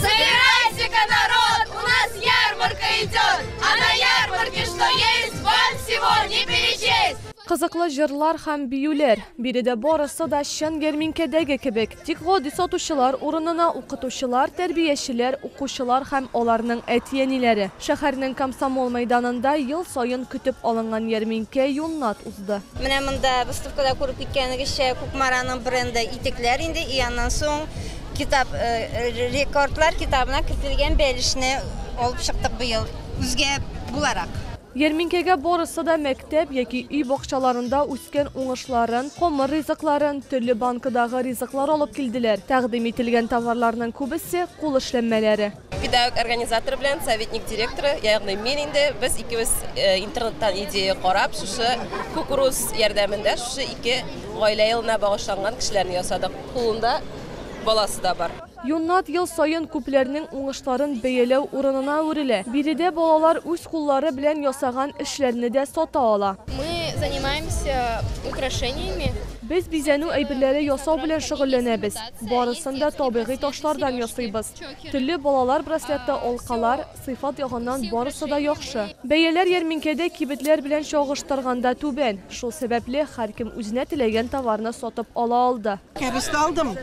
Собирайте-ка народ, у нас ярмарка идет, а на ярмарке что есть, вам всего не перечесть. Кызыклы җырлар һәм биюләр. Биредә барысы да чын ярминкәдәге кебек. Тик гади сатучылар урынына укытучылар, тәрбиячеләр, укучылар һәм аларның әти-әниләре. Шәһәрнең Комсомол мәйданында ел саен көтеп алынган ярминкә юннат узды. Менә монда выставкада күреп киткәнегезчә, Кукмараның бренды итекләр инде, и аннан соң Китап рекордлар китабына кертелгән бәлешне алып чыктык быел үзгә буларак. Ярминкәгә барысы да мәктәп яки өй бакчаларында үскән уңышларын, комыр ризыкларын, төрле банкадагы ризыклар алып килделәр. Тәкъдим ителгән товарларның күбесе кул эшләнмәләре. Педагог организаторы белән советник директоры, ягъни мин инде без икебез э, интернеттан идея карап, шушы кукуруз ярдәмендә шушы ике гаилә елына багышланган кешеләрне ясадык. Кулында баласы да бар. Юннат ел саен күпләрнең уңышларын бәяләү урынына әверелә. Биредә балалар үз куллары белән ясаган эшләрне дә сата ала. Мы занимаемся украшениями. Без бизәнү әйберләре ясау белән шөгыльләнәбез. Барысын да табигый ташлардан ясыйбыз. Телле балалар браслеты, алкалар, сыйфат ягыннан барысы да яхшы. Бәяләр ярминкәдә кибетләр белән чагыштырганда түбән. Шул сәбәпле, һәркем үзенә теләгән товарны сатып ала алды. Кәбестә алдым,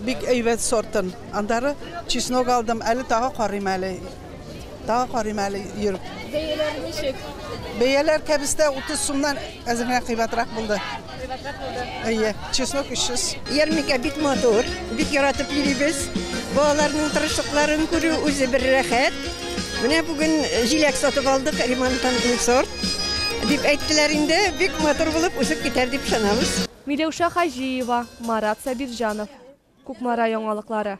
бик әйбәт сортын. Аннары чеснок алдым, әле тагы карыйм әле. Тагы карыйм әле йөреп. Бәяләр ничек? Бәяләр кәбестә 30 сумнан әзер генә кыйбатрак булды. Кыйбатрак булды. Әйе, чеснок 300. Ярмикә бик матур, бик яратып йөрибез. Балаларның тырышлыкларын күрү үзе бер рәхәт. Менә бүген җиләк сатып алдык, ремонттан сорт. Дип әйттеләр инде, бик матур булып үсеп китәр дип ышанабыз. Миләүшә Хаҗиева, Марат Сабирҗанов, Кукмара яңалыклары.